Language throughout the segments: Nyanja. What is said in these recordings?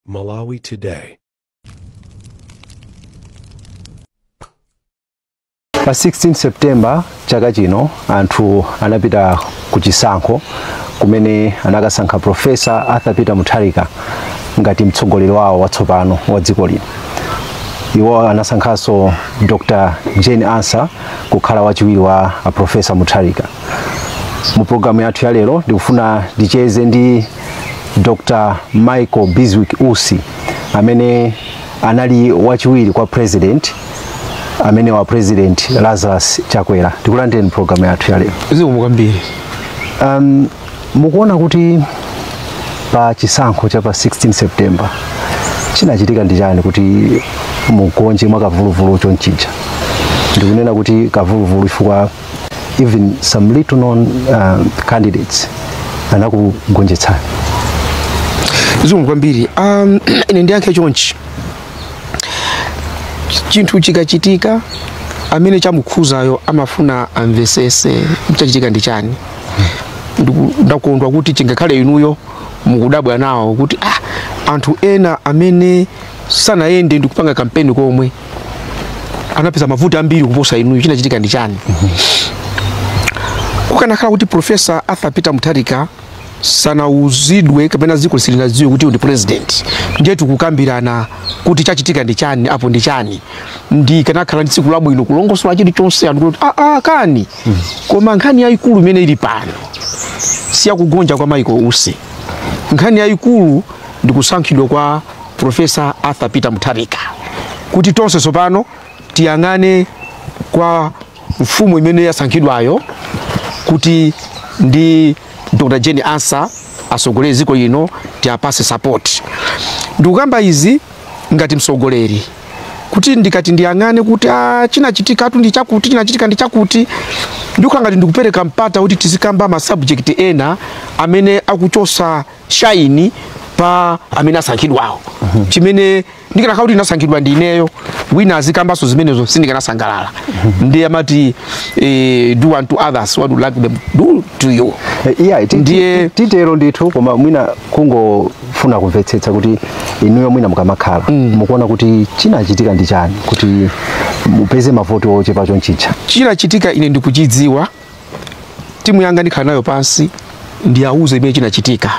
Malawi Today. pa 16 september chaka chino anthu anapita ku chisankho kumene anakasankha profesa arthur peter mutharika ngati mtsogoleri wawo watsopano wa dziko lino iwo anasankhanso dr jane ansah kukhala wachiwiri wa a profesa mutharika mu programu yathu ya lero ndikufuna ndicheze ndi dr michael biswick usi amene anali wachiwiri kwa president amene wa president lazarus chakwera ndikulandireni programu yathu ya lero zikomo kwambiri um, mukuona kuti pa chisankho cha pa 16 september chinachitika ndi chani kuti mugonje mwa kavuluvulu chonchija ndikunena kuti kavuluvulu chifukwa even some little known uh, candidates anakugonjetsani zikomo kwambiri um, ine ndiyankhe chonchi chinthu chikachitika amene chamukhuzayo amafuna amvesese chachitika ndi chani Ndiku- ndakondwa kuti chingakhale inuyo mukudabwa nawo kuti ah, anthu ena amene sanayende ndikupanga kampeni komwe anapeza mavoti ambiri kuposa inuyo chinachitika ndi chani kukanakhala kuti profesa arthur peter mutharika sanauzidwe kapena dziko silinadziwe kuti ndi president ndiye tikukukambirana kuti chachitika ndi chani apo ndi chani ndikanakhala ndi tsiku labwino kulongosola chilichonse anthu kuti aa kani koma nkhani yayikulu imene ili pano siyakugonja kwa michael usi nkhani yayikulu ndi kusankhidwa kwa Profesa Arthur Peter Mutharika kuti tonse tsopano tiyang'ane kwa mfumu imene yasankhidwayo kuti ndi Dr. Jane Ansah asogolere dziko lino tiapase support. Ndikukamba izi ngati msogoleri kuti ndikati ndiyang'ane kuti ah, chinachitikatu ndi chakuti chinachitika ndi chakuti ndikukhala ngati ndikupereka mpata kuti tizikamba ma subject ena amene akuchosa shine pa amene asankhidwawo chimene ndikanakhala kuti ndinasankhidwa ndi ineyo wina azikambanso zimenezo sindikanasangalala ndiye amati eh, do unto others what you like them do to you Eh, iya ti- Ndiye- ti- titero ndithu koma mwina kungofuna kumvetsetsa kuti inuyo mwina mukamakhala mukuona kuti chinachitika ndi chani kuti mupeze mavoti ochepa chonchija chinachitika ine ndikuchidziwa timu yanga ndikhala nayo pansi ndiwauze chimene chinachitika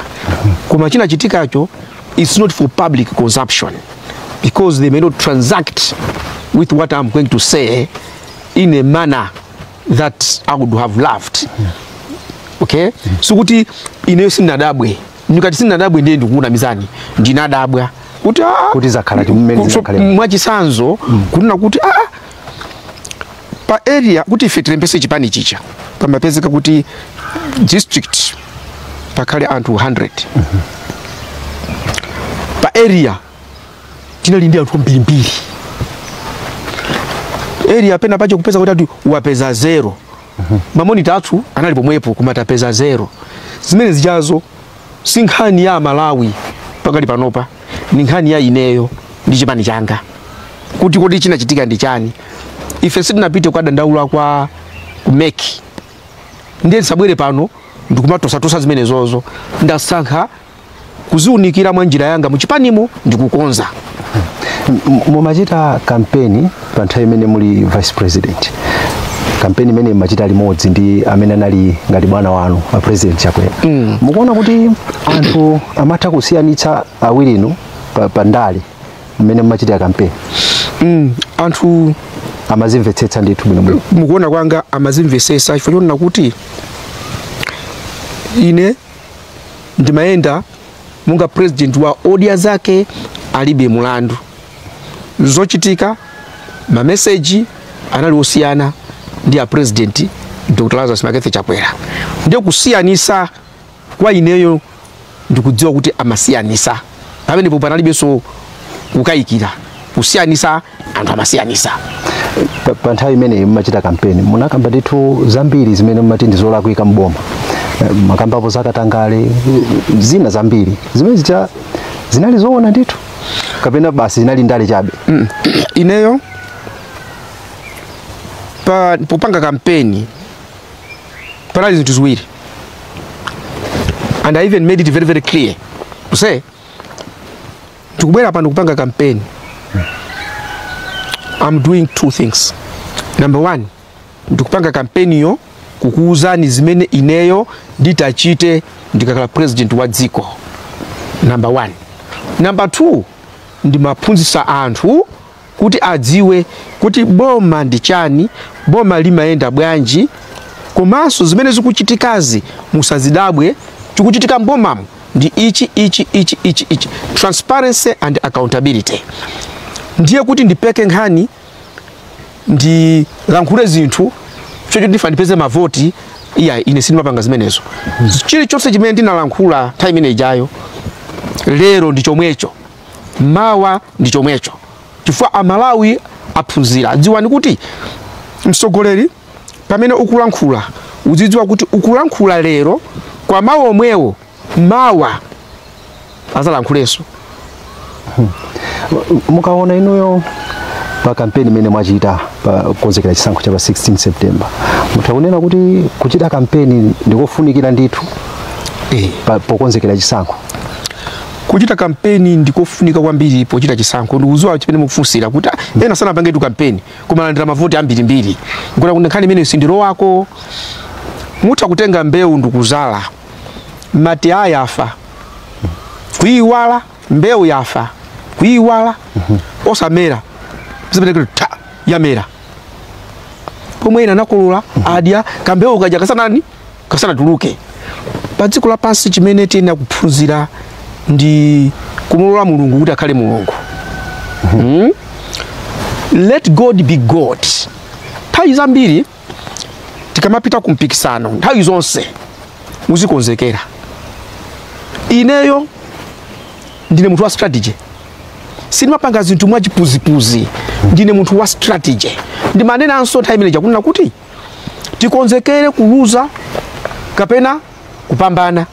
koma chinachitikacho it's not for public consumption because they may not transact with what i'm going to say in a manner that i would have loved okay sikuti ineyo sindinadabwe ndikati sindinadabwe ndiye ndikukunamizani ndinadabwa kuti ah, Kuti zakhala chimene kuti so- zakhalira. mwachisanzo kunena kuti ah, pa area kuti ife tilembese chipani chija pamapezeka kuti district pakhale anthu 100 pa area tinali ndi anthu ambirimbiri area pena pake kupeza kuti ati wapeza zero mamonita athu anali pomwepo kumatapeza zero zimene zijazo si nkhani ya amalawi pakali panopa ndi nkhani ya ineyo ndi chipani changa kuti kodi chinachitika ndi chani ife sitinapite kukadandaula kwa ku MEC ndiye ndisabwere pano ndikumatosatosa zimenezozo ndasankha kuziunikira mwa njira yanga muchipanimo ndikukonza M- mumachita kampeni pa nthawi imene muli vice president kampeni imene mumachita limodzi ndi amene anali ngati bwana wanu a president chakwera mm. mukuona kuti anthu amatha kusiyanitsa awirinu pa, pa ndale mmene mumachitira kampeni mm, anthu amazimvetsetsa ndithu bwinobwino mukuona kwanga amazimvetsetsa chifukwa chonena kuti ine ndimayenda monga president wa odya zake alibe mulandu zochitika mameseji anali osiyana ndi a president dr lazarus McCarthy chakwera ndiye kusiyanisa kwa ineyo ndikudziwa kuti amasiyanisa pamenepo panalibenso kukayikira kusiyanisa anthu amasiyanisa Pa- pa nthawi imeneyi mumachita kampeni munakamba ndithu zambiri zimene mumati ndi zolakwika mboma Eh, mumakambapo zakatangale eh, zina zambiri zimene zita zinali zoona ndithu kapena basi zinali ndale chabe Mm. ineyo pa popanga kampeni panali zinthu ziwiri and i even made it very very clear to say ndikubwera pano kupanga kampeni i'm doing two things number one ndikupanga kampeniyo kukuwuzani zimene ineyo nditachite ndikakhala president wa dziko number one number two ndimaphunzitsa anthu kuti adziwe kuti boma ndi chani boma limayenda bwanji komanso zimene zikuchitikazi musazidabwe chikuchitika mbomamu ndi ichi ichi ichi ichi ichi transparency and accountability ndiye kuti ndipeke nkhani ndilankhule zinthu chocho ndikufuna ndipeze mavoti iyayi ine sindimapanga zimenezo chilichonse chimene ndinalankhula nthawi imene ijayo lero ndi chomwecho mawa ndi chomwecho chifukwa amalawi aphunzira dziwani kuti mtsogoleri pamene ukulankhula uzidziwa kuti ukulankhula lero koma mawu omwewo mawa azalankhulenso mukaona inuyo pa kampeni imene mwachita pokonzekera chisankho cha pa 16 september mutha kunena kuti kuchita kampeni ndikofunikira ndithu eh. pa- pokonzekera chisankho kuchita kampeni ndikofunika kwambiri pochita chisankho ndikuziwa chimene mukufunsira kuti ah, ena sanapangetu kampeni kumalandira mavoti ambirimbiri kuti nkhani imene sindiro wako mutha kutenga mbewu ndikuzala mmati yafa kuiwala mbewu yafa kuiwala osamera zimenekero ta yamera pomwe ina anakolola adya kambewu kaja kasanani kasanatuluke pa dziko lapansi chimene tiyenera kuphunzira ndi kumulola mulungu kuti akhale mulungu Hmm? let god be god nthawi zambiri tikamapita ku mpikisano nthawi zonse muzikonzekera ineyo ndine munthu wa strategy sindimapanga zinthu mwachipuzipuzi ndine munthu wa strategy ndimanenanso nthawi imene ija kunena kuti tikonzekere kuluza kapena kupambana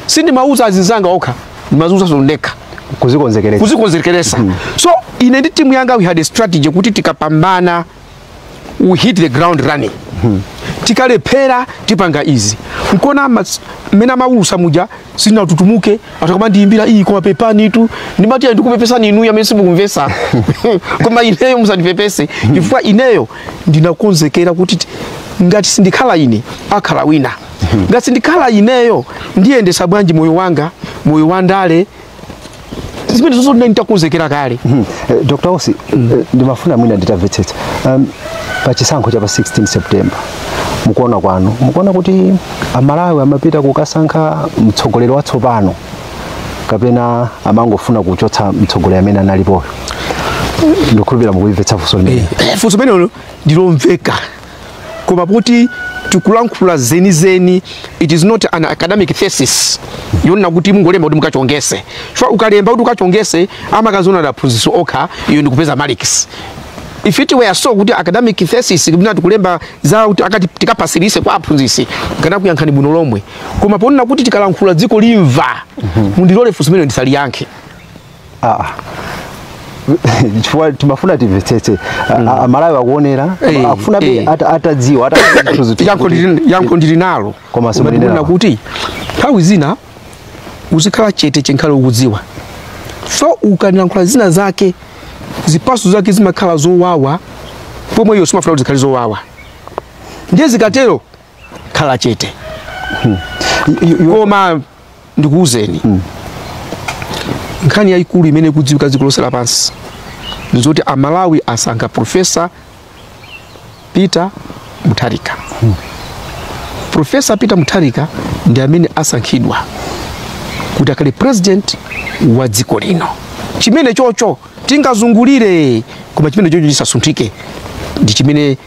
sindimauza azinzanga okha ndimaziuzanso ndekha kuzikonzekeresa so ine ndi timu yanga we had a strategy kuti tikapambana we hit the ground running hmm. tikalephera tipanga izi n'kuona mmene amawulusa muja sitinatutumuke ata kumandiyimbira iii koma pepanitu ndimati ayi ndikupepesani inuyo amene simukumvesa koma ineyo musandipepese hmm. chifukwa ineyo ndinakonzekera kuti ngati sindikhala ine akhala wina hmm. ngati sindikhala ineyo ndiyendesa bwanji moyo wanga moyo wa ndale zimene zonse ndinali nditakonzekera kale Mhm. Eh, Dr. Usi eh, ndimafuna mwina nditamvetsetsa um, pa chisankho cha pa 16 September mukuona kwanu mukuona kuti amalawi amapita kukasankha mtsogoleri watsopano kapena amangofuna kuchotsa mtsogoleri amene analipoyo ndikukhulupirira mukulimvetsa funso limeneli funso limenelo ndilomveka koma poti tikulankhula zenizeni it is not an academic thesis yonena kuti mungolemba kuti mukachongese chifukwa ukalemba kuti ukachongese amakaziona ndi aphunzitsi okha iyo ndikupeza marks if it were so kuti academic thesis kapena tikulemba za kuti akati tikapasirise kwa aphunzitsi nkanakuyankhani bwino lomwe koma poona kuti tikalankhula dziko limva mundilole funso limeneli ndisaliyankhe Ah, ah. chifukwa timafuna timvetsetse A- a- amalawi akuonera Eh, akufuna be eh. ata- atadziwa ata- zinthu zithu yankho kuti- ndili- yankho ndili nalo Koma si Ngati mwenera. kunena kuti nthawi zina uzikhala chete chinkhale ukudziwa so ukayankhula zina zake zipaso zake zimakhala zowawa pomwe iwe sumafuna kuti zikhale zowawa ndiye zikatero khala chete You- you- you- koma ndikuwuzeni mm. nkhani yayikulu imene ikudziwika dziko lonse lapansi ndi zoti amalawi asankha profesa peter mutharika mm. profesa peter mutharika ndi amene asankhidwa kuti akhale president wa dziko lino chimene chocho tingazungulire koma chimene chocho chisasunthike ndi chimene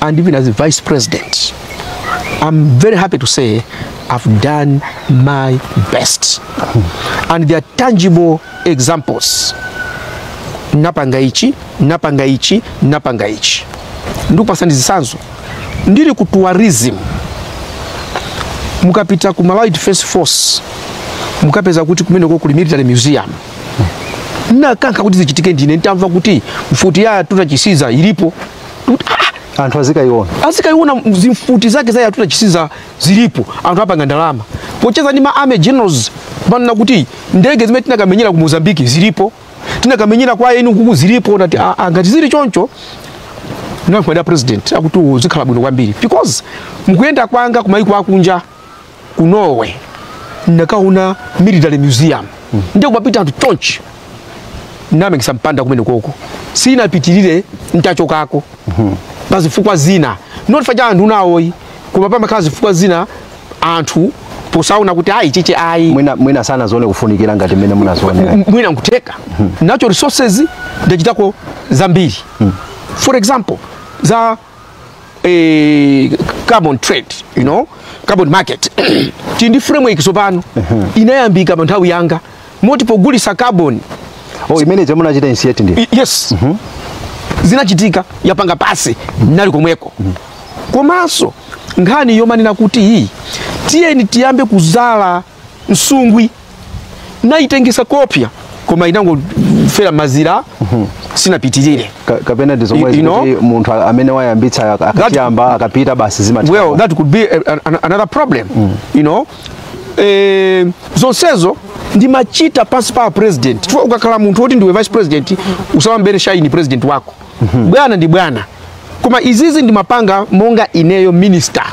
and even as a vice president, I'm very happy to say I've done my best. And there are tangible examples. Napanga ichi, napanga ichi, napanga ichi. Ndikupasani zitsanzo. Ndili ku tourism. Mukapita ku Malawi Defense Force. Mukapeza kuti kumeneko kuli military museum. nakankha kuti zichitike ndine ntamva kuti mfuti ya a yatuta chisiza ilipo Ndikuti, "Ah, anthu azikayiona azikayiona zimfuti zake za a yatuta chisiza zilipo anthu apanga ndalama pocheza ndi ma army generals manena kuti ndege zimene tinakamenyera ku mozambiki zilipo tinakamenyera kwa eni kuku zilipo nati "Ah, ah, ngati zili choncho ndinakauza president akuti zikhala bwino kwambiri because mkuyenda kwanga kumayiko akunja ku norway ndinakaona military museum mm. ndiye kumapita anthu chonchi ndinamangitsa mpanda kumeneko koma sinapitirire ntachokako mm-hmm. pa zifukwa zina not chifukwa cha anthu ena ayi koma pamakhala zifukwa zina anthu posaona kuti ayi chiche ayi mwina, mwina sanazione kufunikira ngati mmene munazionera mwina nkutheka mm-hmm. nacho resources ndachitako zambiri mm. for example za eh, carbon trade you know carbon market tili ndi framework tsopano inayambika pa nthawi yanga moti tikugulitsa carbon oh imene ija munachita initiate ndi I- yes zinachitika yapanga pasi nali komweko komanso nkhani yomanena kuti hii tiyeni tiyambe kudzala nsungwi ndinaitengetsa kopya koma inangofera mazira mhm. sinapitirire Ka, kapena ndi zomwe zikuti munthu amene wayambitsa akayamba akapita basi zimat well that could be a, an, another problem mm. you know eh, zonsezo ndimachita pansi pa a president chifukwa ukakhala munthu woti ndiwe vice president usamamubere shaini president wako mm -hmm. bwana ndi bwana koma izizi ndimapanga monga ineyo minister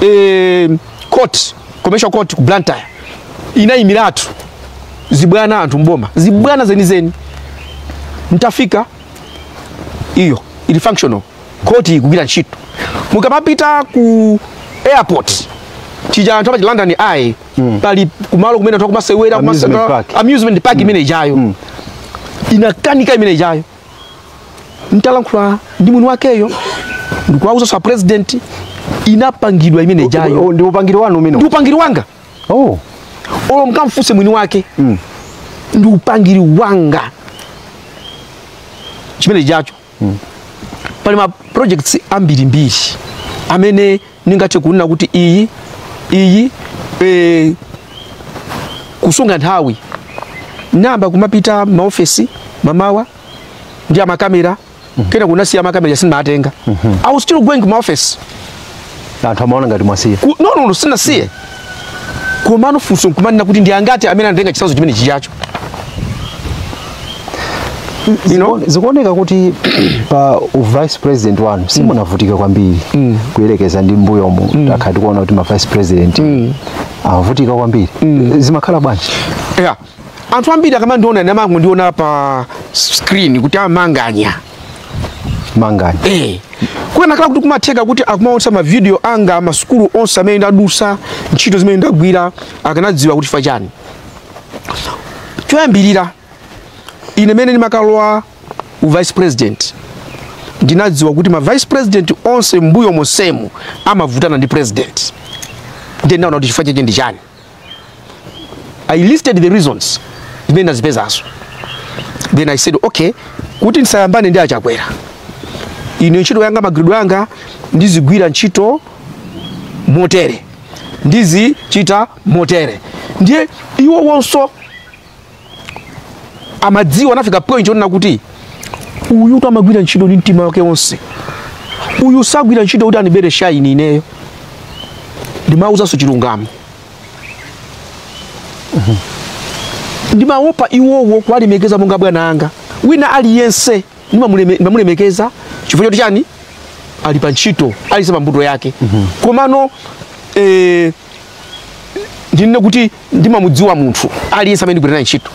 eh, court commercial court ku blantyre inayimiratu zibwana anthu mboma zibwana zenizeni mtafika iyo ili functional koti ikugwira ntchito mukamapita ku airport chija anthu apa London Eye pali kumalo kumene anthu akumasewera amusement park imene ijayo inakanika imene ijayo ntalankhula ndi mwini wakeyo ndikuwauza za president inapangidwa imene ijayo ndi upangiri wanu umene ndi upangiri wanga olo mkamfuse mwini wake mm. ndi upangiri wanga chimene ijacho mm. pali ma projects ambiri mbiri amene ningathe kunena kuti iyi iyi e, kusunga nthawi nayamba kumapita maofesi mamawa ndi amakamera mm -hmm. kenako nasiya makamera sindimatenga mm -hmm. i was still going to my office anthu amaona ngati mwasiya no no no sindinasiye mm -hmm. komano funso nkumanena kuti ndi angati amene anatenga chitsanzo chimene chijacho you know? zikuoneka kuti pa u vice president wanu simunavutika kwambiri kuyerekeza ndi mbuyomo takhala tikuona kuti ma vice president amavutika kwambiri zimakhala bwanji yeah. anthu ambiri akamandiona amangondiona pa screen kuti amanganya kukanakhala kuti kumatheka kuti akumaonesa mavidiyo anga masukulu onse amene ndadusa ntchito zimene ndagwira akanadziwa kuti chifukwa chani choyambirira ine mmene ndimakalowa u vice president ndinadziwa kuti ma vice president onse mbuyo monsemu amavutana ndi president ndiye ndinaona kuti chifukwa chake ndi chani i listed the reasons zimene ndazipezazo then i said okay kuti ndisayambane ndi achakwera ine ntchito yanga magwiridwe anga ndizigwira ntchito motere ndizichita motere ndiye iwowonso amadziwa anafika point onena kuti uyutu amagwira ntchito ndi mtima wake wonse uyu sagwira ntchito kuti andibere shaini ineyo ndimawuzanso chilungamo ndimawopa iwowo kuwalemekeza monga bwana anga wina aliyense ndimamulemekeza chifukwa choti chani ali pa ntchito aliyense pa mbuto yake komano ndinene kuti ndimamudziwa munthu aliyense amene ndikugwira naye ntchito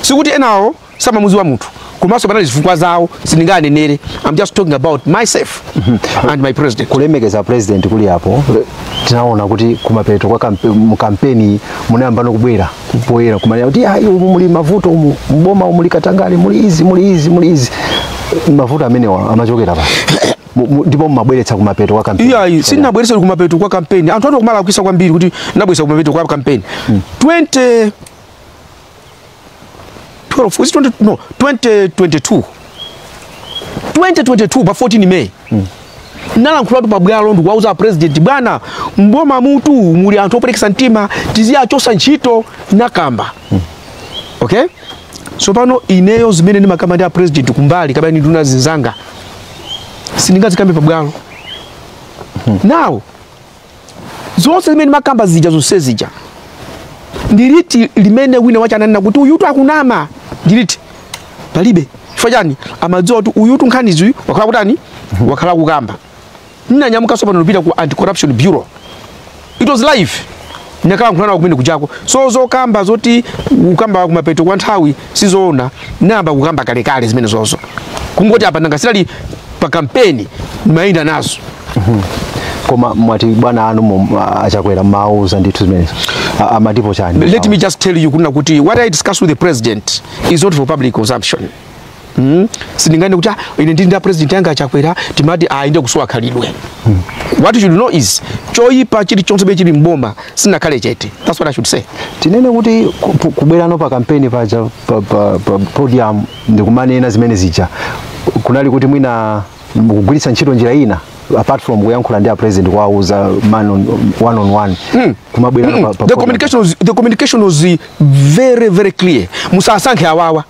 sikuti enawo samamudziwa munthu komanso panali zifukwa zawo sindinganenere i'm just talking about myself and my president kulemekeza president kuli apo tinaona kuti kumapeto kwa kampe, mu kampeni munayamba no kubwera poyera kumanena kuti ayi umu muli mavuto umu mboma umu muli katangale muli izi muli izi muli izi mavuto amenewa amachokera pa ndipo mumabweretsa kumapeto kwa kampeni iyayi sinabweretsa kumapeto kwa kampeni anthu ati kumalankhula kwambiri kuti nabweretsa kumapeto kwa kampeni mm. 20 12 eh 20 no 2022 2022 pa 14 May mm. nalankhulatu pabwalo ndikuwauza president bwana mboma mutu muli anthu operekesa mtima tiziwachosa ntchito nakamba mm. okay so pano ineyo zimene ndimakamba ndi a president kumbali kapena nduna zinzanga sindingazikambe pabwalo nawo zonse zimene nimakamba zija zonse zija ndiliti limene wina wake ananena kuti uyutu akunama ndiliti palibe chifukwa chani amadziwa kuti uyutu nkhanizi wakhala akutani wakhala akukamba ninanyamukanso pano nupita ku anti corruption bureau it was live ndinakalankhulana nawo kumene kujako so zokamba zoti kukamba kumapeto kwa nthawi sizoona ndayamba kukamba kalekale zimenezozo kungoti apa nanga sinali pa kampeni ndimayenda nazo koma mwati bwana anu mu- a- a Chakwera mumawauza ndithu zimenezo A- amatipo chiyani let me just tell you kunena kuti what i discuss with the president is not for public consumption Mm. sindinganene kuti ah, ine ndili ndi a president yanga a Chakwera timati ayi ndiye kusowa khalidwe mm. what you should know is choyipa chilichonse be chili mboma sinakhale chete that's what i should say tinene kuti ku- ku- kubwerano pa kampeni paja pa, pa, pa podium ndikumanena zimene zija kunali kuti mwina kugwiritsa ntchito njira ina apart from kuyankhula ndi a president kuwauza man on, one on one kumabwerano pa, pa the podium. communication was, the communication was uh, very very clear musasankhe awawa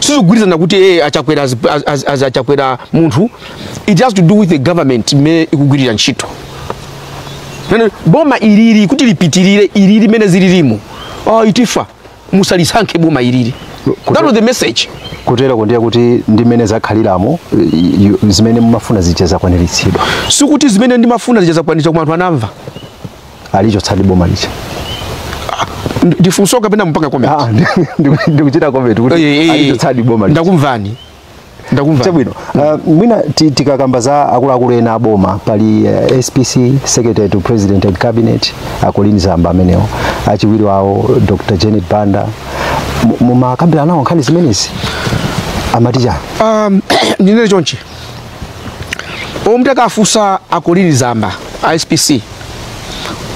sizikugwirizana kuti eh, a Chakwera as, as, as, as a Chakwera munthu it has to do with the government imene ikugwirira ntchito Nene, boma ilili kuti lipitirire ilili limene zililimo oh, titifa musalisankhe boma ilili that was the message kuteroko ndiye kuti ndi mmene zakhaliramo i- i- zimene mumafuna zija zakwaniritsidwa sikuti zimene ndimafuna zija zakwaniritsidwa koma anthu anamva alichotsadi boma lija ndi funso kapena mukupanga comment ah, ndikuchita comment kuti eh, eh, eh. alichotsadi boma lija ndakumvani chabwino uh, mwina tikakamba za akuluakulu ena aboma pali uh, spc secretary to president and cabinet a Colleen Zamba amenewo achiwiri wawo dr janet banda mumakambirana nawo nkhani zimenezi amati chani um, ndinene chonchi olo mutakafunsa a Colleen Zamba a spc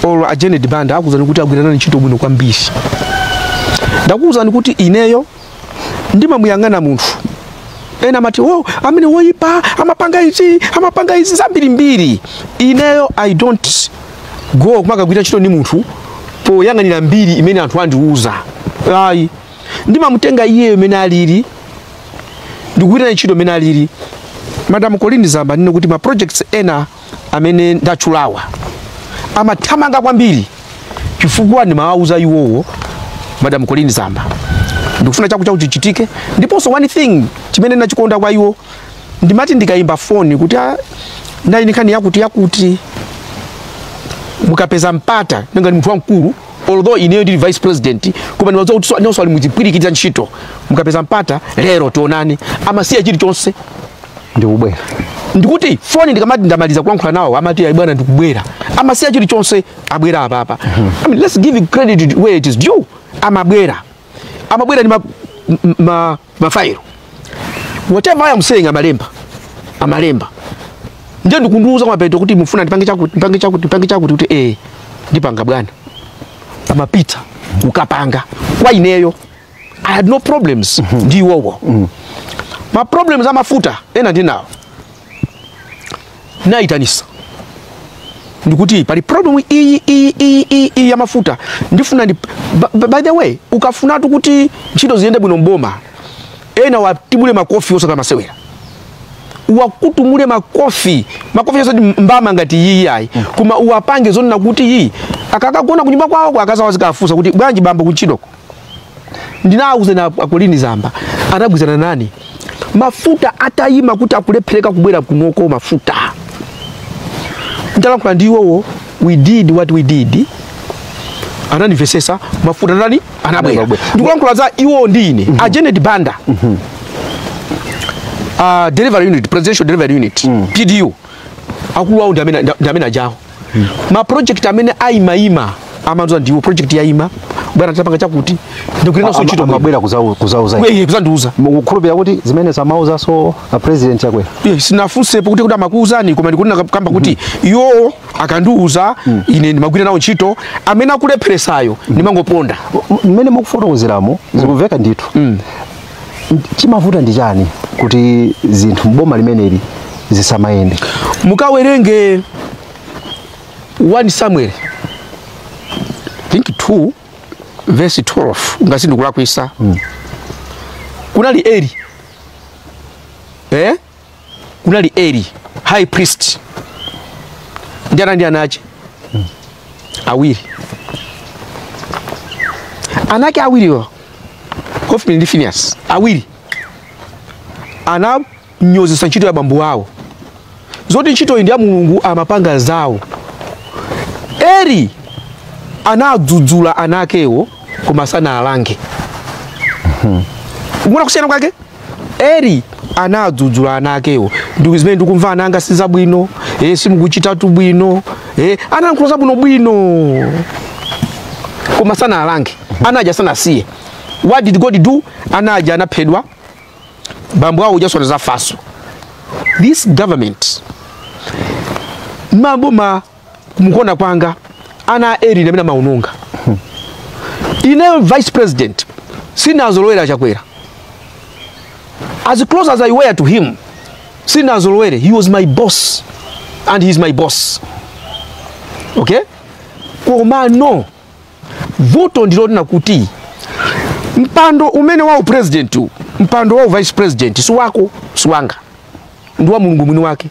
or a janet banda akuwuzani kuti agwira nane ntchito bwino kwambiri ndakuwuzani kuti ineyo ndimamuyang'ana munthu ena amati o amene woyipa amapanga izi amapanga izi zambirimbiri ineyo i don't go kumakagwira ntchito ndi munthu poyang'anira mbiri imene anthu andiwuza ayi ndimamutenga iyeyo mene alili ndikugwira naye ntchito mene alili madam colin zamba ndiye kuti ma projects ena amene ndachulawa amathamanga kwambiri chifukwa ndimawauza iwowo madam colin zamba ndikufuna chakuti chakuti chichitike ndiponso one thing chimene ndachikonda kwa iwo ndimati ndikayimba foni kuti "Ah, ndili ndi nkhani yakuti yakuti mukapeza mpata nanga ndi munthu wamkulu although ineyo ndili vice president koma ndimadziwa kuti so- nawonso ali muchipwirikiti cha ntchito mukapeza mpata lero tionane amasiya chilichonse ndikubwera ndikuti foni ndikamati ndamaliza kulankhula nawo amati ayi bwana ndikubwera amasiya chilichonse abwera apapa I mean, let's give credit where it is due amabwera amabwera ndi ma, ma mafairo whatever I am saying amalemba amalemba ndiye ndikundiuza mapeto kuti mufuna ndipange chakuti ndipange chakuti ndipange chakuti kuti eh ndipanga bwana amapita kukapanga kwa ineyo I had no problems ndi iwowo ma problems amafuta ena ndinawo naitanisa ndikuti pali problem iyi iyi iyi iyi iyi ya mafuta ndifuna ndi ba- ba- by the way ukafunatu kuti ntchito ziyende bwino mboma ena uwatibule makofi osati masewera uwakutumule makofi makofi osati mbama ngati iyi ayi koma uwapange zoneneka kuti iyi akakagona kunyumba kwawoko akazawo azikafunsa kuti bwanji bambo kuntchitoko ndinawuzana a colin zamba anagwirizana nane mafuta atayima kuti akulephereka kubwera kunoko mafuta nditalankhula ndi iwowo we did what we did anandimvesesa mafuta anatani anabwera Anabwera. ndikulankhula za iwowo ndi ine a janet banda uh, delivery unit presidential delivery unit pdu akulu awo ndi amene ndi amene aja a ma project amene ayima ayima amandiuza ndiwo project yayima bwana tapanga chakuti ndikulinanso Ama- ntchito bwino. amabwera kuzau- kuzauza Iye- iye kuzandiuza mukukhulupirira kuti zimene amauzaso a president chakwera Iye, sinafunsepo kuti kuti amakuuzani koma ndikunena kamba kuti iwowo akandiuza ine ndimagwira nawo ntchito amene akulepheresayo ndimangoponda mmene mukufotokozeramo zikumveka ndithu chimavuta ndi chani kuti zinthu mboma limeneli zisamayende mukawerenge 1 samuel I think 2 verse 12 ngati sindikulakwisa mm. kunali eli eh? kunali eli high priest ndi ana ndi ana ache awiri ana ake awiriwo hofni ndi finias awiri ananyozesa ntchito ya bambo wawo zoti ntchitoyi ndi ya mulungu amapanga zawo eli anawadzudzula ana akewo koma sanaalange waona kusiyana kwake Eli anadzudzula ana akewo ndi zimene ndikumva ana anga si zabwino eh, simukuchitatu bwino eh, anayankhula zabwino bwino koma sanaalange ana aja sanasiye what did god do ana aja anaphedwa bambo awo ujanso anadzafanso this government m'boma mukuona kwanga ana a Eli ndi amene amaononga ine vice president sindinawazolowere a Chakwera as close as i were to him sindinawazolowere he was my boss and he is my boss okay komano vuto ndilonena kuti mpando umene uja wa upresident mpando wa u vice president si wako si wanga ndi wa mulungu mwini wake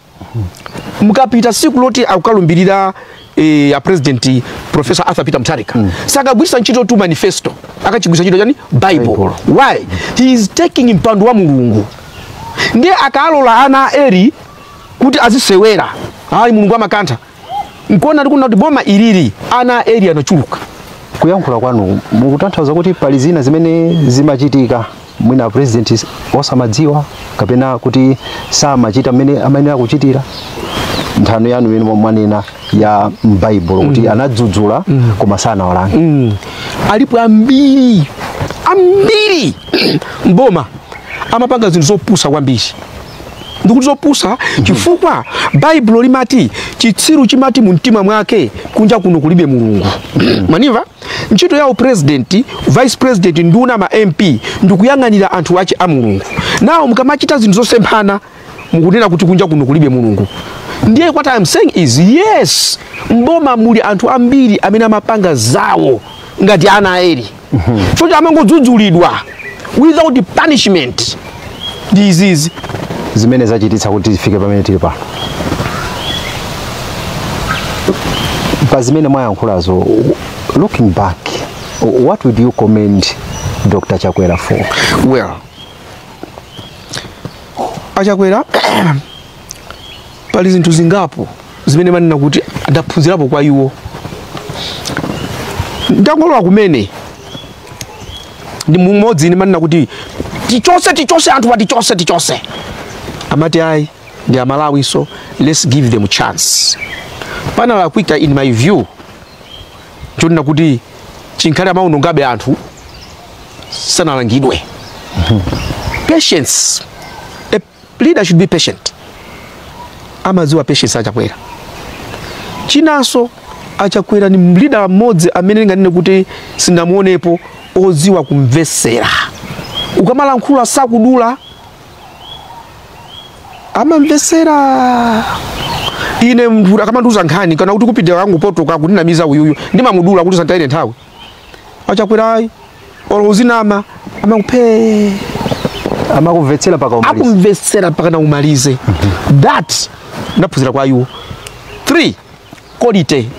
mukapita siku loti akukalumbira eh, a president professor arthur peter mutharika mm. sakagwiritsa ntchitotu manifesto akagwiritsa ntchito chani Bible why he is taking mpando wa mulungu ndiye akalola ana a Eli kuti azisewera ayi mulungu amakantha nchifukwa ndikunena kuti boma ilili ana a Eli anachuluka kuyankhula kwanu mukutanthauza kuti pali zina zimene zimachitika mwina a president osamadziwa kapena kuti samachita mmene amayenera kuchitira nthano yanu imene mwanena ya m'baibulo kuti mm. anadzudzula mm. koma sanawalange mm. alipo ambiri ambiri m'boma amapanga zinthu zopusa kwambiri ndikuti zopusa chifukwa baibulo limati chitsiru chimati mu mtima mwake kunja kuno kulibe mulungu mwandimva ntchito ya upresident vice president nduna ma mp ndikuyang'anira anthu ache a mulungu nano mukamachita zinthu zosemphana mukunena kuti kunja kuno kulibe mulungu ndiye what I'm saying is yes m'boma muli anthu ambiri amene amapanga zawo ngati ana a Eli choncho amangodzudzulidwa without punishment ndi izizi zimene zachititsa kuti tifike pamene tili pano pa zimene mwayankhulazo looking back what would you commend dr chakwera for well a Chakwera pali zinthu zingapo zimene ndimanena kuti ndaphunzirapo kwa iwo ndangolowa kumene ndi mumodzi ine ndimanena kuti tichotse tichotse anthu apa tichotse tichotse amati ayi ndi amalawinso let's give them chance panalakwika in my view nchonena kuti chinkana amaonongabe anthu sanalangidwe patience Leader should be patient. Amadziwa patience a Chakwera. Chinanso a Chakwera ni leader mmodzi amene ndinganene kuti sinamuonepo odziwa kumvesera. Ukamalankhula sakudula amamvesera ine munthu akamandiuza nkhani kaya kuti kupitira kangopotoka kundinamiza uyuyu ndimamudula kuti asanditayire nthawi a Chakwera ayi olo uzinama amakhalabe amakumvetsera mpaka umaliza akumvetsera mpaka na umalize that ndaphunzira kwa iwo 3 quality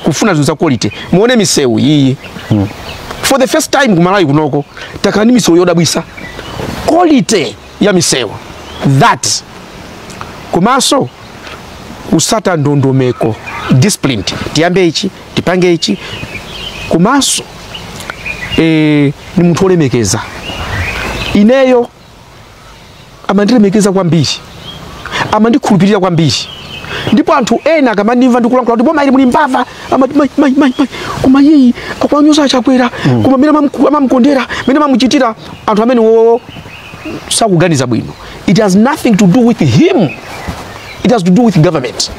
kufuna zinthu za quality muone misewu iyi for the first time ku Malawi kunoko takhala ndi misewu yodabwisa quality ya misewu that komanso kutsata ndondomeko disciplined tiyambe ichi tipange ichi komanso e, ni munthu olemekeza ineyo amandilemekeza kwambiri amandikhulupirira kwambiri ndipo anthu ena akamandimva ndikulankhula kuti boma ili muli mbava amati mai mai mai mai koma uyu akuwanyoza a Chakwera koma mene amamukondera mene amamuchitira anthu amenewo sakuganiza bwino it has nothing to do with him it has to do with government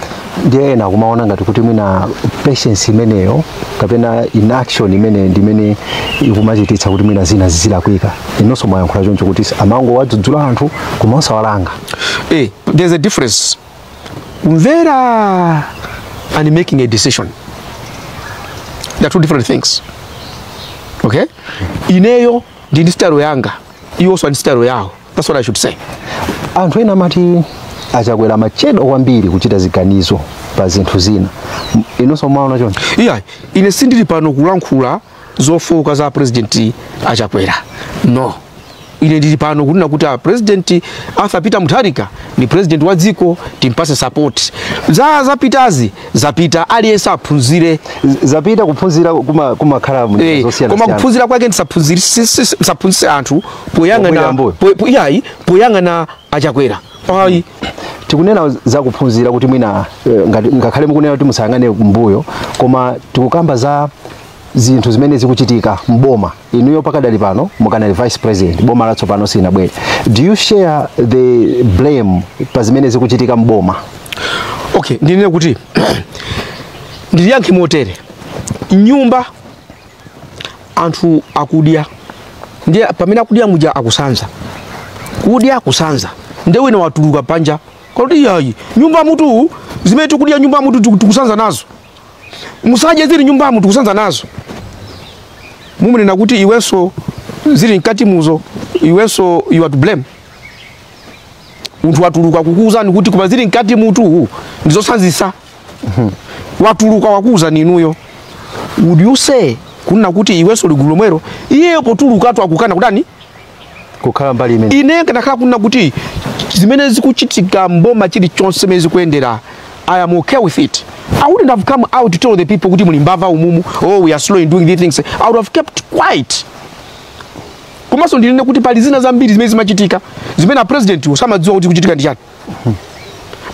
ndiye ena akumaona ngati kuti mwina patience imeneyo kapena inaction imeneyo ndi imene ikumachititsa kuti mwina zina zizilakwika inonso mwayankhula choncho kuti amangowadzudzula anthu kuma osawalanga eh, there's a difference kumvera and making a decision they are two different things okay ineyo ndi ndi style yanga iwonso ndi style yawo that's what i should say anthu ena amati a Chakwera amachedwa kwambiri kuchita ziganizo pa zinthu zina M- inonso mwaona choncho iyayi ine sindili pano kulankhula zofooka za a president a Chakwera no ine ndili pano kunena kuti a president arthur peter mutharika ndi president wa dziko timpatse support zazapitazi zapita aliyense aphunzire zapita kuphunzira kuma- kumakhala mu njira Eh, koma zosiyanasiyana kuphunzira kwake ndisaphunzitse si- si- si- ndisaphunzitse anthu Pobwera poyang'ana mbuyo. po- po- iyayi poyang'ana a Chakwera ayi tikunena za kuphunzira kuti mwina eh, ngati- ngakhale mukunena kuti musayang'ane kumbuyo koma tikukamba za zinthu zimene zikuchitika mboma inuyo pakadali pano mukadali vice president boma latsopano silinabwere do you share the blame pa zimene zikuchitika mboma okay ndinene kuti ndiliyankhe motere m'nyumba anthu akudya ndiye pamene akudya muja akusanza kudya kusanza nde wina watuluka panja kunena kuti iyayi m'nyumbamutu zimene tikudya m'nyumbamutu tiku- tikusanza nazo musadye zili m'nyumbamu tikusanza nazo mumunena kuti iwenso zili mkatimuzo iwenso you are to blame munthu watuluka kukuuzani kuti koma zili mkatimutu ndizosanzisa watuluka wakuuzani inuyo would you say kunena kuti iwenso uli gulu lomwero iyeyo potulukatu akukana kudani kukhala mbali imene ine kanakhala kunena kuti zimene zikuchitika mboma chilichonse mmene zikuyendera I am okay with it. I wouldn't have come out to tell the people kuti muli mbava umumu, oh we are slow in doing these things. I would have kept quiet. Komanso ndinene kuti pali zina zambiri zimene zimachitika zimene a president samadziwa kuti kuchitika ndi chani.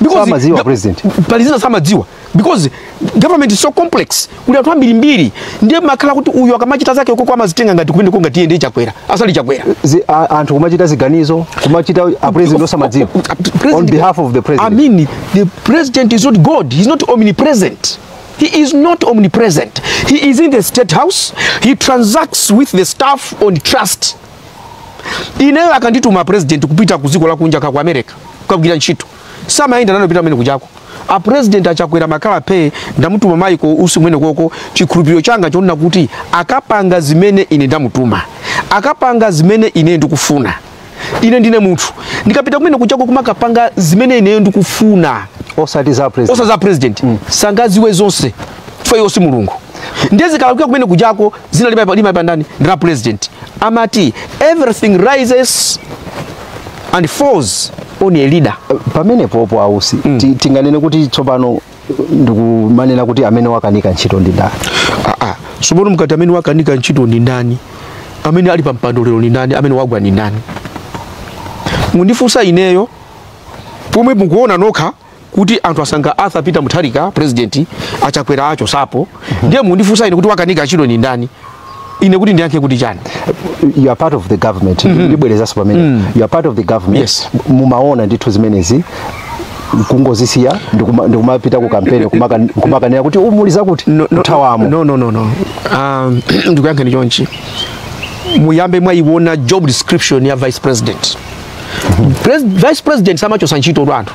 Because samadziwa a president. pali zina samadziwa because government is so complex kuli anthu ambirimbiri ndiye makhala kuti uyu akamachita zake ukoko amazitenga ngati kumeneko ngati iye ndiye Chakwera asali Chakwera Zi- a- anthu kumachita ziganizo kumachita a president osamadziwa on behalf of the president I mean, the president is not God. He's not omnipresent. He is not omnipresent. He is in the state house. He transacts with the staff on trust. ineyo akandituma president kupita ku dziko lakunja ka ku America kukagwira ntchito samayenda nane kupita kumene kujako a president a Chakwera amakhala phe ndamutuma Michael Usi kumenekoko chikhulupiriro changa chonena kuti akapanga zimene ine ndamutuma akapanga zimene ine ndikufuna ine ndine munthu ndikapita kumene kujako kumakapanga zimene ineyo ndikufuna osati za president osaza president sangadziwe zonse chifukwa iwo si mulungu ndiye zikalakwika kumene kujako dzina limayipa limayipa ndani ndi la president amati everything rises and falls on a leader pamenepopo a Usi ti- tinganene kuti tsopano ndikumanena kuti amene wakanika ntchito ndi ndani Ah, ah. tsopano mukati amene wakanika ntchito ndi ndani amene ali pa mpando lero ndi ndani amene wagwa ndi ndani mundifunsa ineyo pomwe mukuona nokha kuti anthu asankha Arthur Peter Mutharika president a Chakwera achotsapo ndiye mundifunsa ine kuti wakanika ntchito ni ndani ine kuti ndiyankhe kuti chani you are part of the government ndibwerezanso pamene you are part of the government Yes. mumaona ndithu zimenezi kungozisiya ndikuma- ndikumapita ku kampeni kumaka- kumakanena kuti umu muli zakuti kuthawamo no, no, no, no. Um, ndikuyankheni chonchi muyambe mwayiwona job description ya vice president Pres vice president samachotsa ntchitotu anthu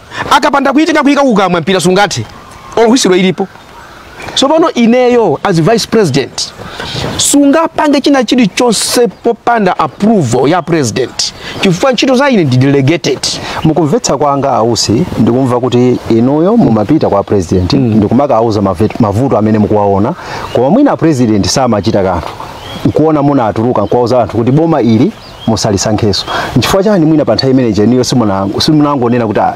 akapanda kuitenga kuika kukamwa mpira sungathe olo whistle ilipo tsopano ineyo as vice president sungapange china chilichonse popanda approval ya president chifukwa ntchito za ine ndi delegated mukumvetsa kwanga a Usi ndikumva kuti inuyo mumapita kwa president ndikumakawauza mavet- mavuto amene mukuwaona koma mwina president samachita kanthu nkuona munatuluka nkuwauza anthu kuti boma ili musalisankhenso nchifukwa chani mwina pa nthawi imene ija inuyo simunango- simunangonena kuti "Ah,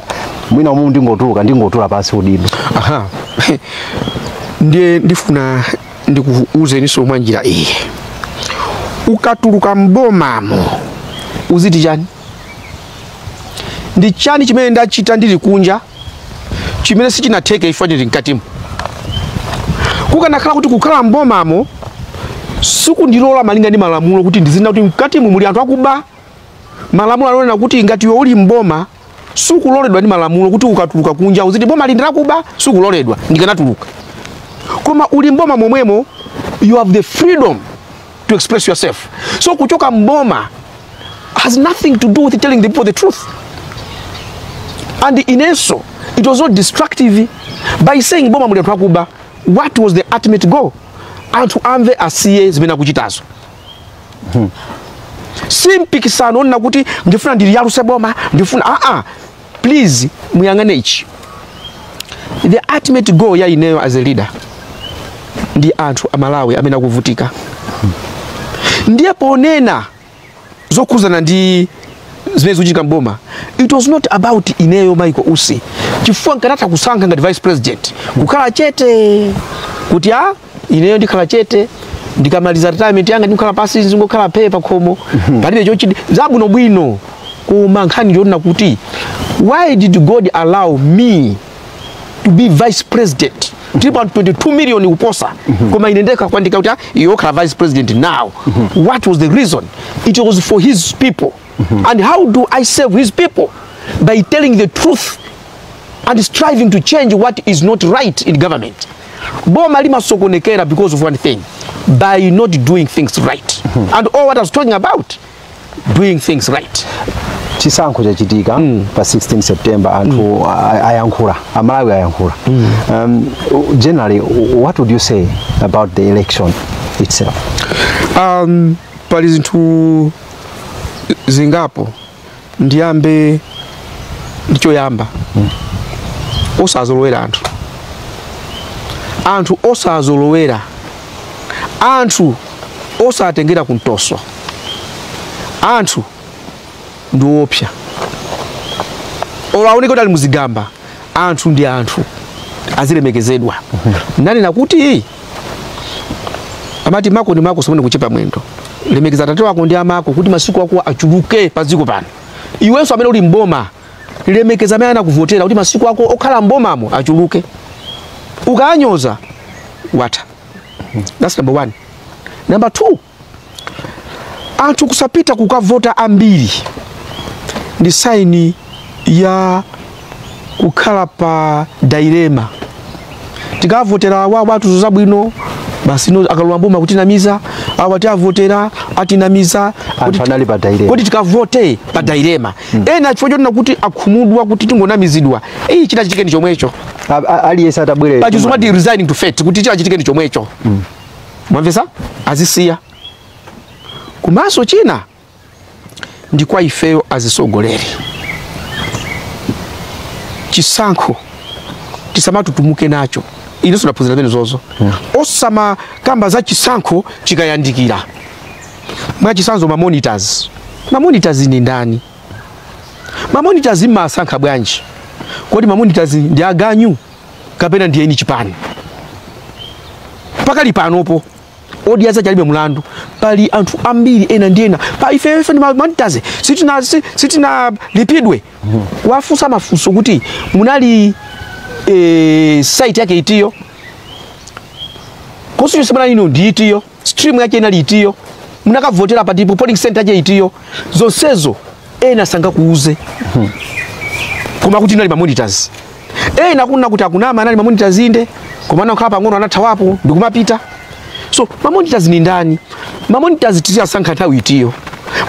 mwina umu ndingotuluka ndingotula pansi udindo aha ndiye ndifuna ndikuuzeninso mwa njira iyi ukatuluka mbomamo uziti chani ndi chani chimene ndachita ndili kunja chimene sichinatheke if ndili mkatimo kukanakhala kuti kukhala mbomamo sikundilola malinga ndi malamulo kuti ndizinena kuti mkatimu muli anthu akuba malamulo amanena kuti ngati iwe uli mboma sukuloledwa ndi malamulo kuti ukatuluka kunja uziti boma ili ndi lakuba sukuloledwa ndikanatuluka koma uli mboma momwemo you have the freedom to express yourself so kuchoka mboma has nothing to do with telling the people the truth and inenso it was not destructive by saying boma muli anthu akuba what was the ultimate goal anthu amve asiye zimene akuchitazo si mpikisano wonena kuti ndifuna ndiliyaluse boma ndifuna aa please muyang'ane ichi the ultimate goal ya ineyo as a leader ndi anthu a Malawi amene akuvutika ndiye ponena zokhuzana ndi zimene zikuchitika mboma it was not about ineyo Michael Usi chifukwa nkanatha kusankha ngati vice president kukhala chete kuti a ineyo ndikhala chete ndikamaliza retirement yanga ndikhala pansi ndizingokhala phee pa khomo palibe choti zabwino bwino koma nkhani ndi yonena kuti why did god allow me to be vice president ndipo anthu 22 million kuposa koma ine ndekha kundiika kuti ah, iwe ukhala vice president now what was the reason it was for his people and how do i serve his people by telling the truth and striving to change what is not right in government boma limasokonekera because of one thing by not doing things right hmm. and all what I was talking about doing things right chisankho chachitika mm. pa 16 September anthu mm. ayankhula amalawi ayankhula mm. um, generally what would you say about the election itself um, pali zinthu zingapo ndiyambe ndi choyamba osazolowera anthu anthu osazolowera anthu osatengera kumtoso anthu ndi woopsa olo aoneke kuti ali muzigamba anthu ndi anthu azilemekezedwa nanena kuti amati mako ndi mako usamuone kuchepa mwendo lemekeza atate wako ndi amako kuti masiku ako achuluke pa dziko pano iwenso amene uli mboma lemekeza amene anakuvotera kuti masiku ako okhala mbomamo achuluke ukanyoza watha that's number one number two anthu kusapita kukavota ambiri ndi saini ya kukhala pa dailema tikavotera awa atiuza zabwino basi no akalowa mboma akutinamiza awa tiavotera atinamiza Anthu anali pa dailema. kodi tikavote pa dailema ena chifukwa chonena kuti akhumudwa kuti tingonamizidwa iyi chitachitike ndi chomwecho A- a- aliyense atabwere pachizungu amati resigning to fate kuti chitachitike ndi chomwecho mwamvesa azisiya komanso china ndi kwa ifeyo azisogoleri chisankho tisamatutumuke nacho inenso ndaphunzirapo zimenezozo osamakamba za chisankho chikayandikira mwachisanzo mamonitors mamonitors ni ndani mamonitors mmasankha bwanji kodi mamonitors ndi aganyu kapena ndi eni chipani pakali panopo odya zacha alibe mlandu pali anthu ambiri ena ndi ena pa ife ife ndi mamonitors sitina si- sitina lipidwe kuwafunsa mafunso kuti munali eh, site yake itiyo constituency yawo inali ndi itiyo stream yake inali itiyo munakavotera patipo polling center yake itiyo zonsezo ena sangakuuze koma akuti anali mamonitors ena osati kuti akunama anali mamonitors inde koma anakhala pang'ono anathawapo ndikumapita so mamonitors ni ndani mamonitors tiziyasankha nthawi itiyo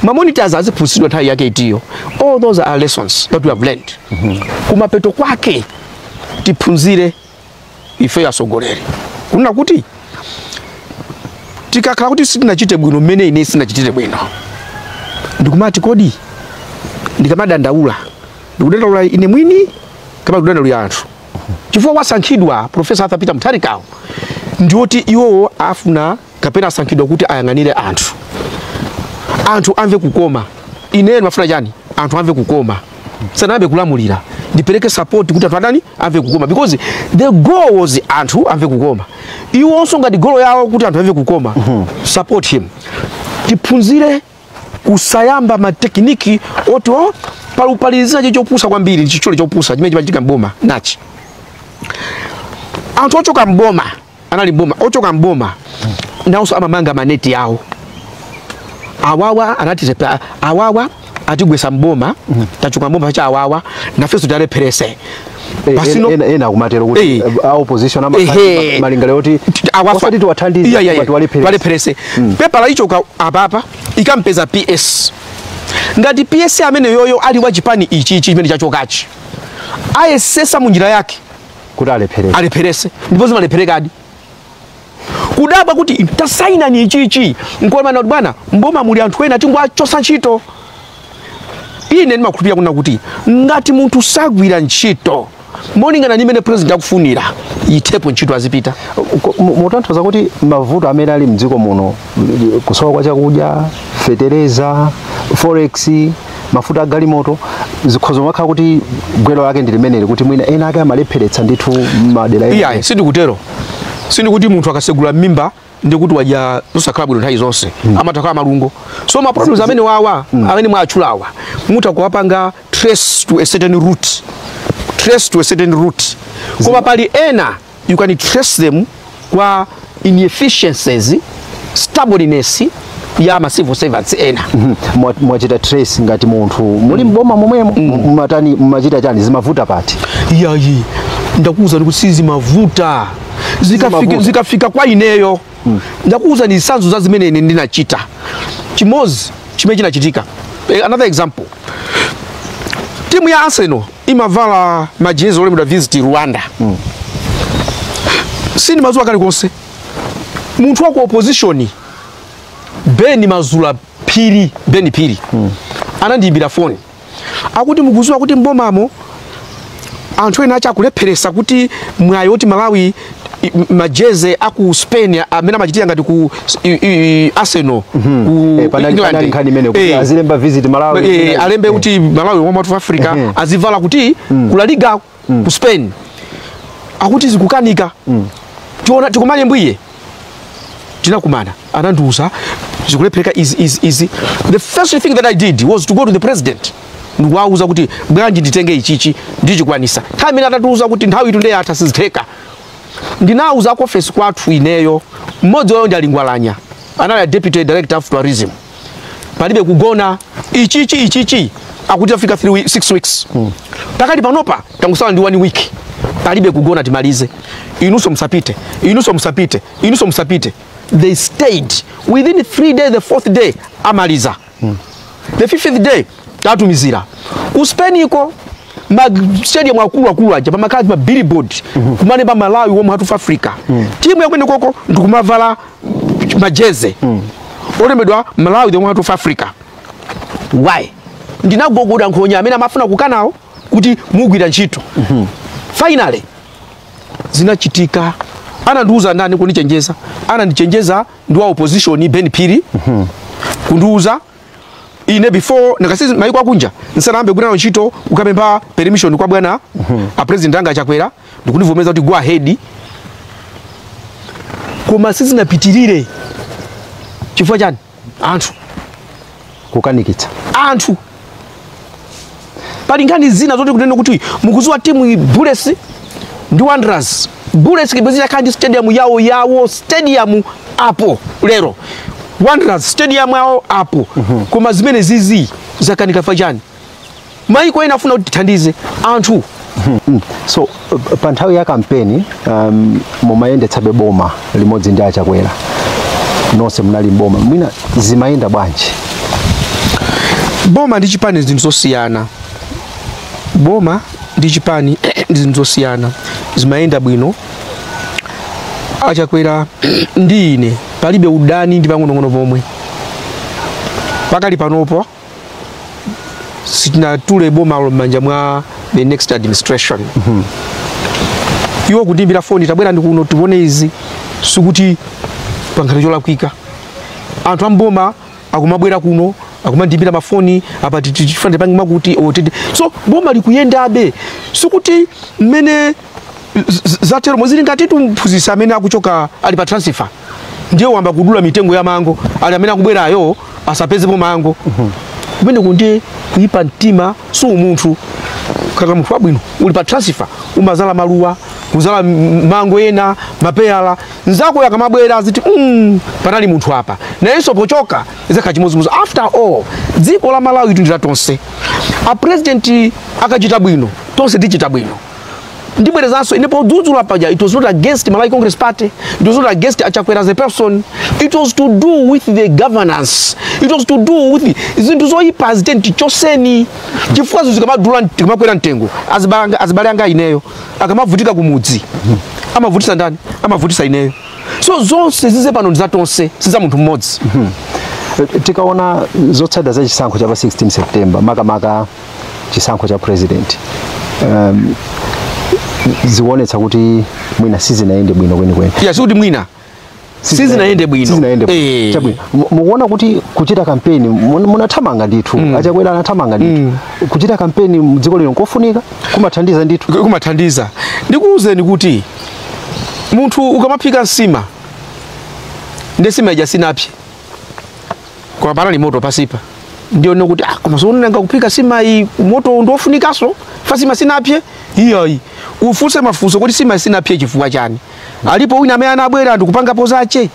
mamonitors aziphunzitsidwa nthawi yake itiyo all those are lessons that we have learned kumapeto kwake tiphunzire ife atsogoleri kunena kuti tikakhala kuti sitinachite bwino mmene ine sinachitire bwino ndikumati kodi ndikamadandaula ndikudandaula ine mwini kapena kudandaulira anthu chifukwa wasankhidwa profesa arthur peter mutharikawo ndiwoti iwowo afuna kapena asankhidwa kuti ayang'anire anthu anthu amve kukoma ineyo ndimafuna chani anthu amve kukoma sanayambe kulamulira ndipereke support kuti anthu atani amve kukoma because the goal was anthu amve kukoma iwonso ngati golo yawo kuti anthu amve kukoma support him tiphunzire kusayamba matekiniki oti opalupalizira cho- chopusa kwambiri chichole chopusa chimene chimachitika mboma nachi anthu ochoka mboma anali mboma ochoka mboma nawonso amamanga maneti awo awawa anatizepa awawa atigwesa mboma tachoka mboma cha awawa nafenso tiwalepherese Eh, Pasino- ena- ena akumatero kuti Eh. eh, a opposition ama- Ehe. malingaliro oti osati tiwathandize Iya, iya, iya. koma tiwalepherese. Walepherese. pepala ikachoka apapa ikampeza ps ngati ps ameneyoyo ali wa chipani ichi ichi chimene chachokachi ayesesa mu njira yake kuti alephereke alepheretse ndipo zimalepherekadi kudabwa kuti tasainani ichichi nkomanati bwana mboma muli anthu ena tingowachotsa ntchito ine ndimakhulupirira kunena kuti ngati munthu sagwira ntchito molingana ndi mmene president akufunira ithepo ntchito azipita mutanthauza kuti mavuto amene ali mdziko muno kusowa kwa chakudya fetereza forex mafuta a galimoto zikhoza kumakhala kuti gwero lake ndi limeneli kuti mwina ena ake amalepheretsa ndithu madera ena iyayi sindikutero sindikuti munthu akatsegula m'mimba ndikuti wadya zosakhala bwino nthawi zonse amatha kukhala malungo so ma problems amenewawa amene mwatchulawa mutha kuwapanga trace to a certain root trace to a certain root koma pali ena you can trace them kwa inefficiencies stubbornness ya ma civil servants ena Mhm. Mwa- mwachita trace ngati munthu muli mboma momwemo mumatani mumachita chani zimavuta pati iyayi ndakuwuzani kuti sizimavuta zikafika, Zimavuta. zikafika kwa ineyo ndakuwuzani zitsanzo za zimene ine ndinachita chimodzi chimene chinachitika Eh, another example timu ya arsenal imavala majezi olembedwa visit rwanda mm. sindimadziwa kalikonse munthu wa ku opposition beni mazula phiri beni phiri mm. anandiyimbira foni akuti mukudziwa kuti mbomamo anthu ena achani akulepheretsa kuti mwayi woti malawi majeze a ku Spain amene amachitira ngati ku i- i- Arsenal ku Eh, panali- England. panali nkhani imene kuti Eh, azilemba visit Malawi. eh, alembe kuti Malawi Warm Heart of Africa Ehe. azivala kuti ku La Liga ku Spain akuti zikukanika tiona tikumane mphwiye tinakumana anandiuza zikulephereka izi izi izi the first thing that i did was to go to the president ndikuwauza kuti bwanji nditenge ichichi ndichikwanisa nthawi imene atatiuza kuti nthawi ikutu nde yatha sizitheka ndinauza kuofesi kwathu ineyo mmodzi wawo ndi a Lungwalanya anali a deputy director of tourism palibe kugona ichichi ichichi akuti tafika 3 weeks 6 weeks pakati panopa tangotsala ndi 1 week palibe kugona timalize inunso musapite inunso musapite inunso musapite they stayed within three days the fourth day amaliza mm. the fifth day tatumizira ku spain iko mastadium akulu akulu aja pamakhala ma billboard mm -hmm. kumaneba malawi warm heart of africa mm. timu yakumenekoko ndikumavala majeze mm. olembedwa malawi the warm heart of africa why ndinagogoda nkhonya amene amafuna kukanawo kuti mugwira ntchito mm -hmm. finally zinachitika anandiuza ndani kundichenjeza anandichenjeza ndi wa opposition ben phiri kundiuza ine before ndakasizi maiko akunja ndisanayambe kugwira nawo ntchito kukapempha permission kwa bwana a president anga achakwera ndikundivomeza kuti go ahead koma sizinapitirire chifukwa chani anthu kukanikitsa anthu pali nkhani zina zoti kunene kuti mukuziwa timu iyi bullets ndi wanderers bullets ibwezi yakhala ndi stadium yawo yawo stadium apo lero wanderers stadium yawo apo koma zimenezizi zakanika chifukwa chani maiko ena afuna kuti tithandize anthu Mm. so uh, pa nthawi ya kampeni um, mumayendetsabe boma limodzi ndi achakwera nonse munali mboma mwina zimayenda bwanji boma ndi chipani ndi zinthu zosiyana boma ndi chipani ndi zinthu zosiyana zimayenda bwino achakwera ndi ine palibe udani ndi pang'onong'ono pomwe pakali panopo sitinatule bomalo m'manja mwa the next administration mm -hmm. iwo kundiimbira foni tabwerani kuno tione izi sikuti pakhale cholakwika anthu amboma akumabwera kuno akumandiimbira mafoni apa tikufuna tipange mukuti bwanji so boma likuyendabe sikuti mmene zatero sizili ngati mphunzitsi amene akuchoka ali pa transfer ndiye wayamba kudula mitengo ya mango ati amene akubwerayo asapezepo mango mhm. kumeneko ndiye kuyipa mtima si umunthu kaka munthu wabwino uli pa transfer umazala maluwa kuzala mango ena mapeyala nzakoyo akamabwera aziti mm, panali munthu apa nayenso pochoka izakhala chimodzimodzi after all dziko la malawi ndi la tonse a president akachita bwino tonse tichita bwino ndibwerezanso ine podzudzula paja it was not against malawi congress party it was not against achakwera as a person it was to do with the governance it was to do with the- zinthu zoyipa zitenti choseni chifukwa zinthu zikamadula zikamakwera mtengo azibanga- azibale anga ineyo akamavutika kumudzi amavutisa ndani amavutisa ineyo so zonse zizi pano ndi za tonse si za munthu mmodzi tikaona zotsatira za chisankho cha pa 16 september makamaka chisankho cha president um, zikuonetsa kuti mwina sizinayende bwino kwenikweni ya sikuti mwina sizinayende bwino sizinayende bwino Eh. chabwino Mu- mukuona kuti kuchita kampeni mun- munathamanga ndithu mm. achakwera anathamanga ndithu mm. kuchita kampeni mdziko lino nkofunika kumathandiza ndithu kumathandiza ndikuwuzeni kuti munthu ukamaphika nsima nde nsima ija sinapse koma panali moto pasipa ndione kuti ah, koma sono nanga kuphika sima iyi moto ndiofunikaso apa sima sinapye iyayi ufunse mafunso kuti sima sinapye chifukwa chani alipo wina amene anabwera ndikupangapo zache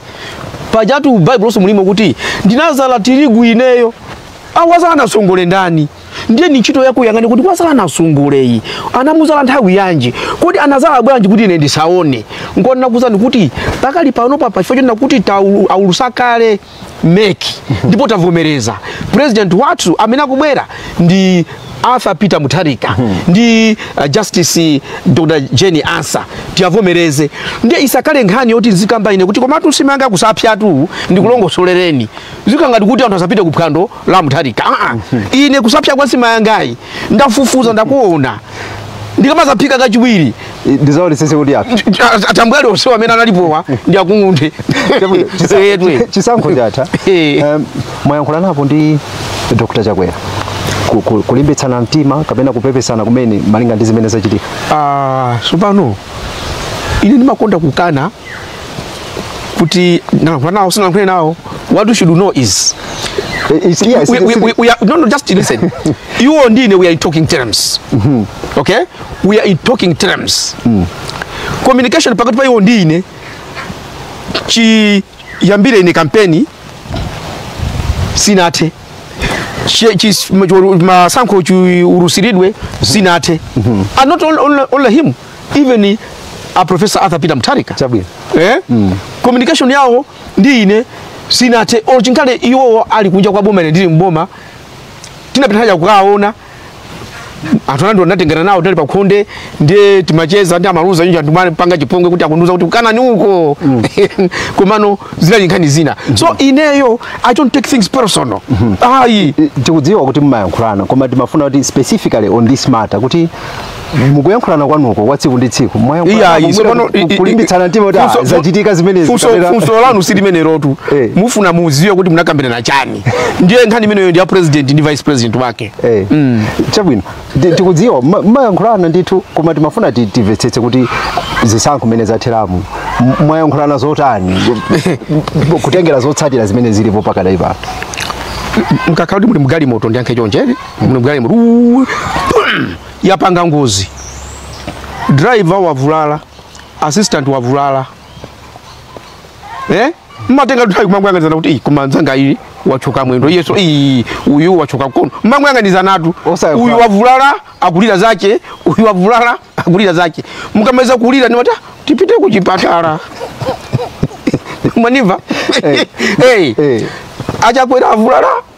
pajatu baibuloso mulimo kuti ndinazala tirigu ineyo awazala nasongole ndani ndiye ni ntchito yako yang'ani kuti wazala nasongole iyi anamuzala nthawi yanji kodi anazala bwanji kuti ine ndisaone ndikuuzani kuti pakali panopa pachifukwa chonena kuti taulu- aulutsa kale mec ndipo tavomereza president wathu amene akubwera ndi arthur peter mutharika ndi uh, justice dr jane ansah tiwavomereze ndiye isakhale nkhani yoti ndizikamba ine kuti komatu nsima yanga kusapyatu ndikulongosolereni zikhale ngati kuti anthu asapite ku phwando la mutharika Aa, ine kusapya kwa nsima yangayi ndafufuza ndakuona ndikamazaphika kachiwiri ndizaonesese kuti atambwali onsewo amene analipowa ndiwakung'unthe Chabwino, chisa- Edwe. chi- chisankho chatha Eh. Em, mwayankhulanapo ndi dr chakwera Ku- ku- kulimbitsana mtima kapena kupepesana kumene malinga ndi zimene zachitika Ah, tsopano ine ndimakonda kukana kuti nalankhula nawo sinalankhule nawo what you should know is It's, yes, we, we, we, we are, no, no, just listen. you and Dine, we are in talking terms. Mm-hmm. Okay? We are in talking terms. Mm. Communication pakati pa iwo ndine chiyambire ine kampeni sinathe Chi- chi- ma- masankho chi- urusiridwe sinathe and not only, only, only him even a professor Arthur Peter Mutharika chabwino eh? mm. communication yawo ndi ine sinathe olo chikhale iwowo ali kunja kwa boma ine ndili mboma tinapita haja kukaona anthu anthu anatengana nawo tinali pakhonde ndiye timacheza ndi amaluza ndiye anthu mmapanga chipongwe kuti akundiuza kuti ukanani uko komano zinali nkhani zina so ineyo i don't take things personal ayi tikudziwa kuti mumayankhulana koma timafuna kuti specifically on this matter kuti Eh, mukuyankhulana kwanuko kwa tsiku ndi tsiku kulimbitsana mtima kuti ah, zachitika zimenezi funso lanu silimenelotu eh. mufuna muziwe kuti munakambirana chani ndiye nkhani imeneyo ndi ya president ndi vice president wake eh. mm. chabwino tikudziwa mmayankhulana ndithu koma timafuna timvetsetse kuti zisankho mmene zatheramu mwayankhulana zotani kutengera zotsatira zimene zilipo pakadali pano mkakhala kuti muli mgalimoto ndiyankhe chonje muli mgalimoto yapanga ngozi driver wavulala assistant wavulala eh mmatenga nthawi kumangoyang'anizana kuti "Ih, koma nzanga uyu wachoka mwendo iyeso ih uyu wachoka mkono mmangoyang'anizanatu Osayakula. uyu wavulala akulira zache uyu wavulala akulira zache mukamaliza kulira ndiye mwati tipite kuchipatala mwandimva Eh. hey. Eh. achakwera avulala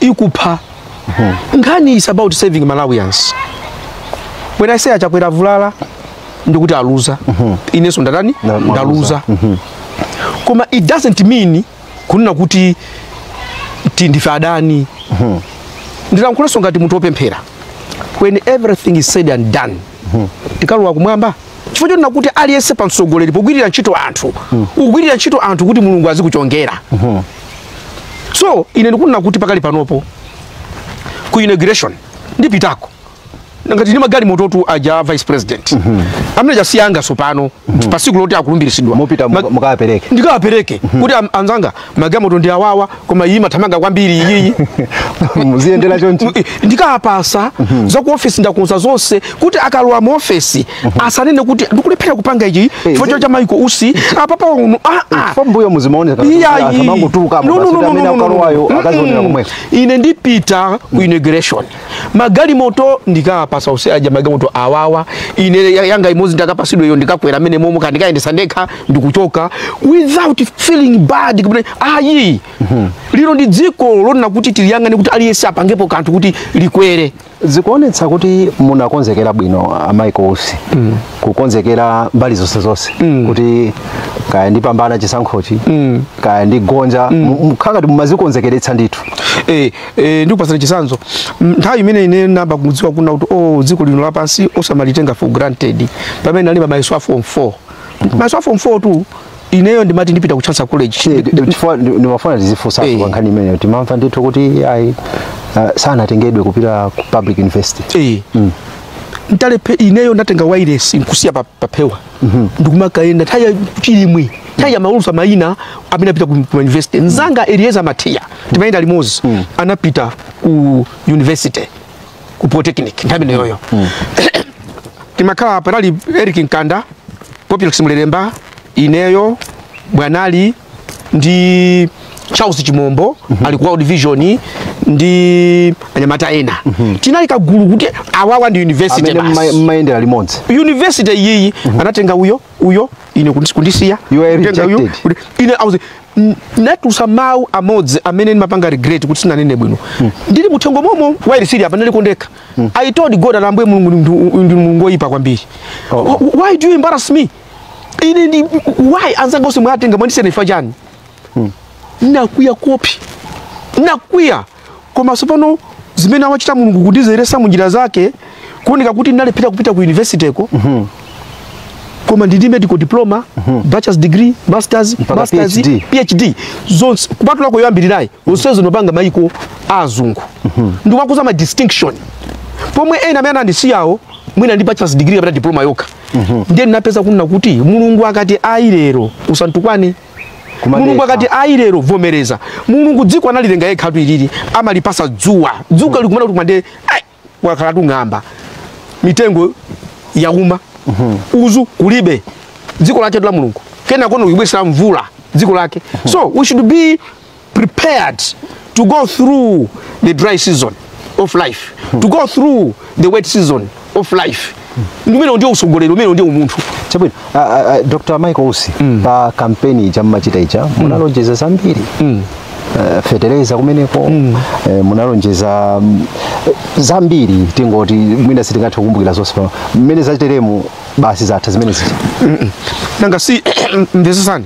ikupha nkhani is about saving malawians when i say achakwera avulala ndikuti aluza inenso ndatani Na- mwaluza. ndaluza koma it doesn't mean kunena kuti ti ndife adani ndilankhulanso ngati munthu wopemphera when everything is said and done tikalowa kumwamba chifukwa chonena kuti aliyense pa mtsogoleri pogwirira ntchito anthu ugwirira ntchito anthu kuti mulungu azikuchongera so ine ndikunena kuti pakali panopo ku inauguration ndipitako ngati ndi magalimoto tu aja vice president mm -hmm. amene tchatsiyanga tsopano mm -hmm. pasiku loti akulumbiritsidwa mupita Mag mukawapereke ndikawapereke mm -hmm. kuti anzanga magalimoto ndi awawa koma iyi imathamanga kwambiri iyiyi muziyendera choncho ndikawapatsa mm -hmm. za ku ofesi ndakonza zonse kuti akalowa mu ofesi mhm. asanene kuti ndikulephera kupanga ichi eh, chifukwa cha Michael Usi apa pauno a a pambuyo muzimaoneka amangotuluka no no no no no akazionera komweko ine ndipita ku inauguration magalimoto ndikawapatsa Usi aja magalimoto awawa ine yanga imodzi ndikapatsidwe iyo ndikakwera m'menemomo ndikayendetsa ndekha ndikuchoka without feeling bad kubone ayi mhm. ilo ndi dziko lonena kuti tiliyang'ane kuti aliyense apangepo kanthu kuti likwere zikuonetsa kuti munakonzekera bwino a Michael Usi mm. kukonzekera mbali zonse zonse mm. kuti kaya ndipambana chisankhochi mm. kaya ndigonja mm. nkhani ngati mumazikonzekeretsa ndithu eh, eh, ndikupatsani chitsanzo nthawi imene ine ndinayamba kudziwa kunena kuti o oh, dziko lino lapansi osamalitenga for granted pamene ndinalemba mayeso a form 4 mayeso a form 4 tu ineyo ndimati ndipita ku Chancellor College ndimafuna ndizikufunsa hey. Eh. nkhani imeneyo timamva ndithu kuti ayi uh, sanatengedwe kupita ku public university hey. Eh. mm. ntalepe ineyo ndinatenga wireless nkusiya pa, pa phewa mm -hmm. ndikumakayenda nthawi ya chilimwe nthawi ya amaulutsa maina amene apita ku, ku university mnzanga mm. Elieza Matiya timayenda limodzi mm. anapita ku university ku polytechnic nthawi imeneyoyo timakhala panali eric mkanda popilx mlelemba ineyo panali ndi charles chimombo ali ku world vision ndi anyamata ena tinali kagulu kuti awawa ndi university amene basi timayendera limodzi university iyiyi anatenga uyo uyo ine kundi- kundisiya You are kutenga uyo, rejected. kuti- ine auze "N- ndinatulutsa mawu amodzi amene ndimapanga regret kuti sinanene bwino ndili muthengo momo wireless ili apa ndili kwa ndekha i told god ati ambuye mulungu ndi- ndi mulungu woyipa kwambiri Oh. Wh- why do you embarrass me ine ndi why anzanga onse mwatenga mwandisiya ine chifukwa chani ndinakwiya koopsa ndinakwiya koma tsopano zimene amachita mulungu kundidzeretsa munjira zake kuoneka kuti ndalephera kupita ku university ko mm-hmm. koma ndili medical diploma mm-hmm. bachelor's degree masters Mpaka masters PhD. phd zonse kupatulako yoyambirirayi zonsezo ndopanga mayiko a azungu ndikumakhoza ma distinction pomwe ena amene anandisiyawo mwina ndi bachelor's degree kapena diploma yokha ndiye ndinapeza kunena kuti mulungu akati ayi lero usantukwane Kumadetsa. mulungu akati ayi lero vomereza mulungu dziko analilenga yekhatu ilili amalipasa dzuwa dzuwa likumana kuti kumande ai, lakhala likung'amba mitengo yauma uzu kulibe dziko laketu la mulungu kenakono kulibweretsera mvula dziko lake so we should be prepared to go through the dry season of life to go through the wet season of life umenewo ndiwo utsogoleri umenewo ndiwo umunthu chabwino ah, ah, ah, dr michael usi pa kampeni ija mmachita ija munalonjeza zambiri Eh, fetereza kumeneko eh, munalonjeza mm, eh, zambiri tingoti mwina sitingathe kukumbukira zonse pano mmene zateremu basi zatha zimene zija nanga si mvetsetsani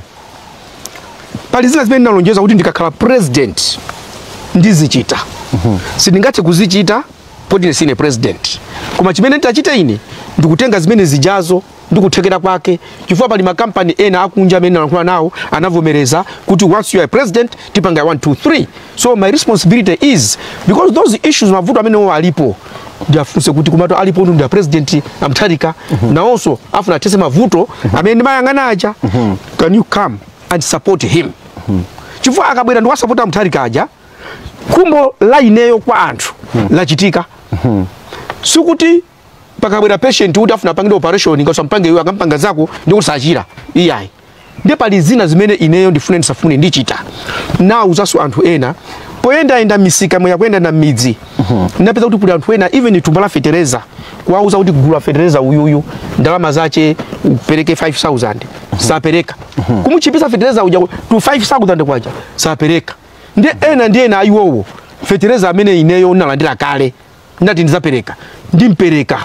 pali zina zimene ndinalonjeza kuti ndikakhala president ndizichita sindingathe kuzichita poti ine sine president koma chimene nditachite ine ndikutenga zimene zijazo ndikuthekera kwake chifukwa pali makampani ena akunja amene ndinalankhula nawo anavomereza kuti once you are president tipanga 1 2 3 so my responsibility is because those issues mavuto amenewo alipo ndiafunse kuti komatu alipo ndi a president a Mutharika nawonso afuna athetse mavuto amene ndimayang'ana aja can you come and support him chifukwa akabwera ndikusapota a Mutharika aja khumbo la ineyo kwa anthu lachitika sikuti pakabwera patient kuti afuna apangidwe operation ngati sumpanga iwe akampanga nzako ndi kuti sachira iyayi ndi pali zina zimene ineyo ndifune ndisafune ndichita ndauzanso anthu ena poyendayenda m'misikamu poyenda m'midzi ndinapeza kuti kuli anthu ena even thumba la fetereza kuwauza kuti gula fetereza uyuyu ndalama zace upereke 5000 sapereka kumutchipitsa fetereza uja ku- to 5000 kwaja sapereka ndi ena ndi ena ayiwowo fetereza amene ineyo ndalandira kale ndati ndizapereka ndimupereka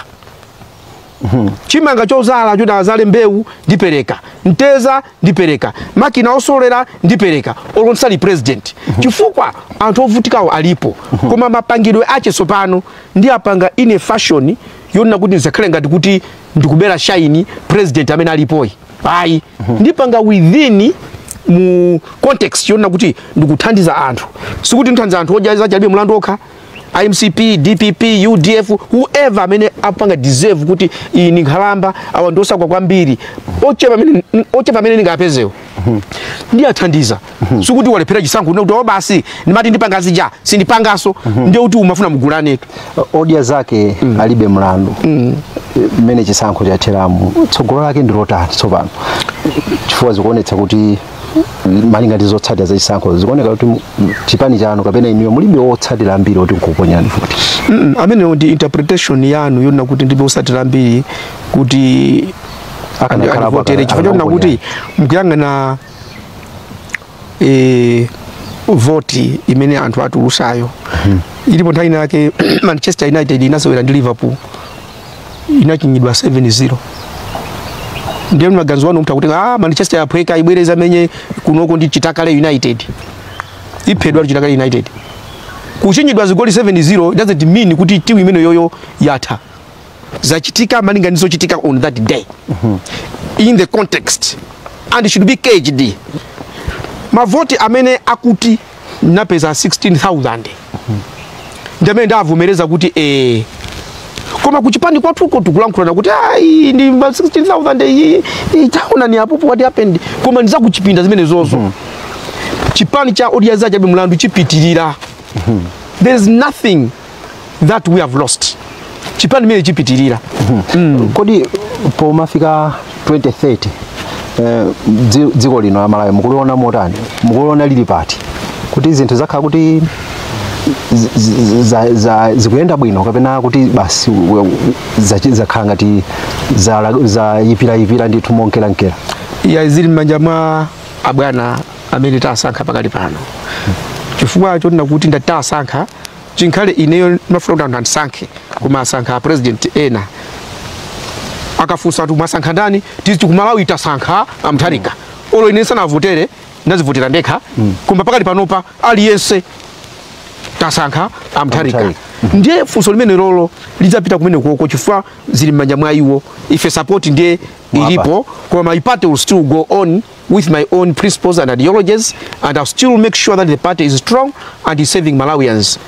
mhm. chimanga chozala choti azale mbewu ndipereka mtedza ndipereka makina osokera ndipereka olo ndisali president mhm. chifukwa anthu ovutikawo alipo mhm. koma mapangidwe ache tsopano ndiwapanga ine fashion yonena kuti ndizakhale ngati kuti ndikubera shaini president amene alipoyi ayi ndipanga within mu context yonena kuti ndikuthandiza anthu sikuti ndithandiza anthu odya zake alibe mlandu okha mcp dpp udf whoever amene apanga deserve kuti iyi ni nkhalamba awa ndi osauka kwambiri ochepa amene- ochepa amene ndingapezewo ndiwathandiza sikuti walephera chisankho ndikuti o basi ndimati ndipanga zija sindipangaso ndiye kuti umafuna muwagule anthu odya zake alibe mlandu mmene chisankho chatheramu tsogolo lake ndilotani tsopano chifukwa zikuonetsa kuti malinga ndi zotsatira za chisankho zikuoneka kuti mu- mu- chipani chanu kapena inuyo mulibe wotsatira ambiri oti nkukuponyerani voti Mm, ameneyo ndi interpretation yanu yonena kuti ndilibe otsatira ambiri kuti andivotere chifukwa chonena kuti mukuyang'ana eh, voti imene anthu atulusayo ilipo nthawi inayake manchester united inasewera ndi liverpool inachinyidwa 7-0 ndiye maganizo a munthu akuti ah Manchester yaphweka ibwereza komwe kunoko ndi Chitakale United iphedwa ndi Chitakale United kuchinyidwa zigoli 7-0 doesn't mean kuti timu imeneyoyo yatha zachitika malinga ndi zochitika on that day in the context and it should be gauged mavoti amene akuti ndapeza 16000 ndamene ndavomereza kuti eh koma kuchipani kwathuko tikulankhulana kuti ayi ndi ma 16000 iyi iyi taonani apopo what happened koma ndi za kuchipinda zimenezozo chipani cha odya zake alibe mlandu chipitirira there is nothing that we have lost chipani chimene chipitirira mm -hmm. kodi pomafika 2030 eh, dziko lino la Malawi mukuliona motani mukuliona lili pati kuti zinthu zakhala kuti zikuyenda bwino kapena kuti basi zakhala ngati zayipirayipira ndithu monkeramunkera yah zili m'manja mwa abwana amene tasankha pakali pano chifukwa choti ndikati tasankha chinkana ineyo ndimafuna kuti anthu andisankhe koma asankha apresident ena akafunsa kuti mwasankha ndani tiziti kumalawi tasankha amtharika olo ine sindinawavotere ndinadzivotera ndekha koma pakali panopa aliyense tasankha amtharika ndiye funso limenelolo lidzapita kumenekoko chifukwa zili m'manja mwa iwo ife support ndiye ilipo koma my party will still go on with my own principles and ideologies and I'll still make sure that the party is strong and is serving Malawians.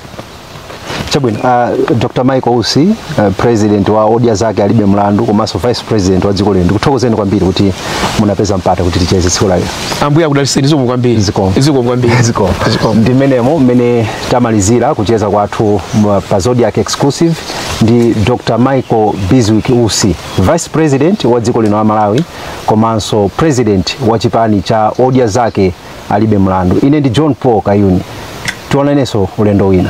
chabwino uh, dr michael usi uh, president wa odya zake alibe mlandu komanso vice president wa dziko lino ndikuthokozeni kwambiri kuti munapeza mpata kuti ticheze tsiku la lero Ambuye akudaliseni zikomo kwambiri. Zikomo. Zikomo kwambiri. ziko Zikomo. ndi mmenemo mmene tamalizira kucheza kwathu mwa- pa zodiak exclusive ndi dr michael bizwick usi vice president wa dziko lino la malawi komanso president wa chipani cha odya zake alibe mlandu ine ndi john paul kayuni tionanenso ulendo wina